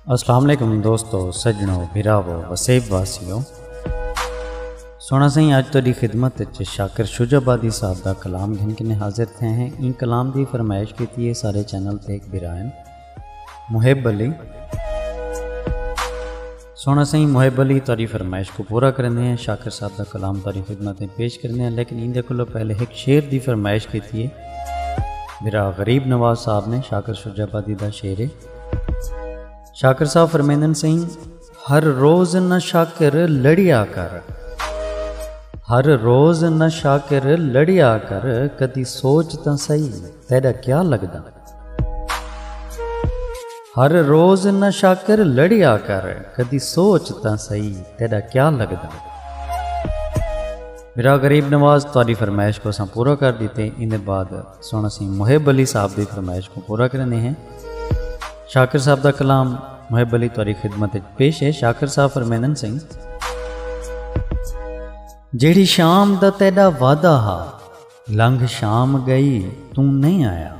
السلام علیکم دوستو سجنو بھراو وسیب واسیو سونا سائیں آج تیری خدمت اچ شاکر شجا بادی صاحب دا کلام گھن کے حاضر تھے ہیں ان کلام دی فرمائش کیتی ہے سارے چینل تے ایک برائن محب علی سوہݨا سئیں محب علی تہاݙی فرمائش کوں پورا کریندے ہیں شاکر صاحب دا کلام تہاݙی خدمت اچ پیش کریندے ہیں لیکن ایندے کولوں پہلے ہک شعر دی فرمائش کیتی ہے بھرا غریب نواز صاحب نے شاکر شجاع آبادی دا شعر ہے شاکر صاحب فرمیندن سئیں ہر روز نہ شاکر لڑیا کر ہر روز نہ شاکر لڑیا کر کدی سوچ تاں سہی تیڈا کیا لگدا ہر روز نہ شاکر لڑیا کر کدی سوچ تاں سہی تیڈا کیا لگدا میرا غریب نواز تاری فرمائش کو اساں پورا کر دیتے ان دے بعد سونا سی محب علی صاحب دی فرمائش کو پورا کرنے ہیں شاکر صاحب دا کلام محب علی تاری خدمت پیش ہے شاکر صاحب فرمینن سنگھ جیڑی شام دا تیڈا وعدہ ہا لنگھ شام ڳئی توں نئیں آیا۔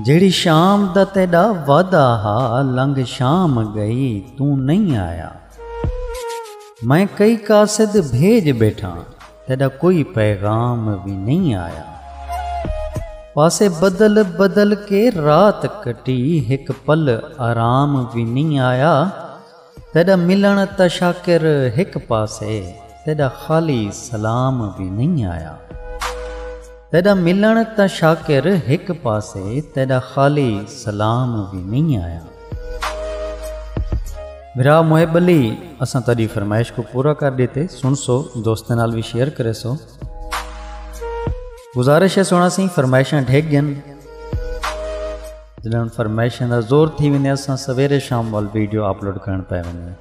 جیڑھی شام دا تیݙا وعدہ ہا لنگھ شام ڳئی توں نئیں آیا۔ میں کئی قاصد بھیڄ ٻیٹھاں تیݙا کوئی پیغام وی نئیں آیا۔ پاسے بدل بدل کے رات کٹی ہک پل آرام وی نئیں آیا۔ تیݙا ملݨ تاں شاکر ہک پاسے تیݙا خالی سلام وی نئیں آیا تیݙا ملݨ تاں شاکر ہک پاسے تیݙا خالی سلام وی نئیں آیا بھرا محب علی اساں تیݙی فرمائش کوں پورا کر ݙیتے سنسو دوستاں نال وی شیئر کریسو گزارش ہے سونا سی فرمائشاں ڈھگ گن جنہاں ہن فرمائشاں دا زور تھی ویندے اساں سویرے شام وال ویڈیو اپلوڈ کرن پے ویندے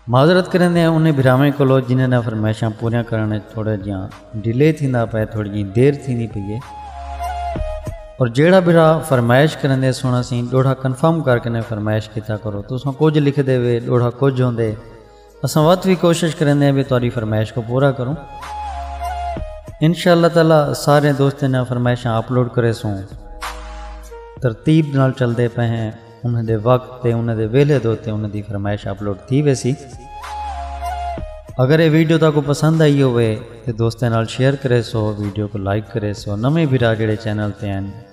معذرت کریندے ہیں انہیں بھراویں کولو جنہاں نے فرمائشاں پوریاں کرن وچ تھوڑا جیاں ڈیلے تھیندا پے تھوڑی جی دیر تھیندی پئی ہے اور جیڑا بھرا فرمائش کریندے سونا سی ڈوڑھا کنفرم کر کے نے فرمائش کیتا کرو تساں کچھ لکھ دے وے ڈوڑھا کچھ ہوندے اساں وت وی کوشش کریندے ہیں بھی تہاڈی فرمائش کو پورا کروں انشاءاللہ تعالی سارے دوستیں نے فرمائشاں اپلوڈ کرے سوں ترتیب نال چل دے پہ ہیں انہاں دے وقت تے انہاں دے ویلے دے تے انہاں دی فرمائش اپلوڈ تھی ویسی اگر یہ ویڈیو تاکو پسند آئی ہوئے تے دوستیں نال شیئر کرے سو ویڈیو کو لائک کرے سو نویں بھرا جڑے چینل تے ہیں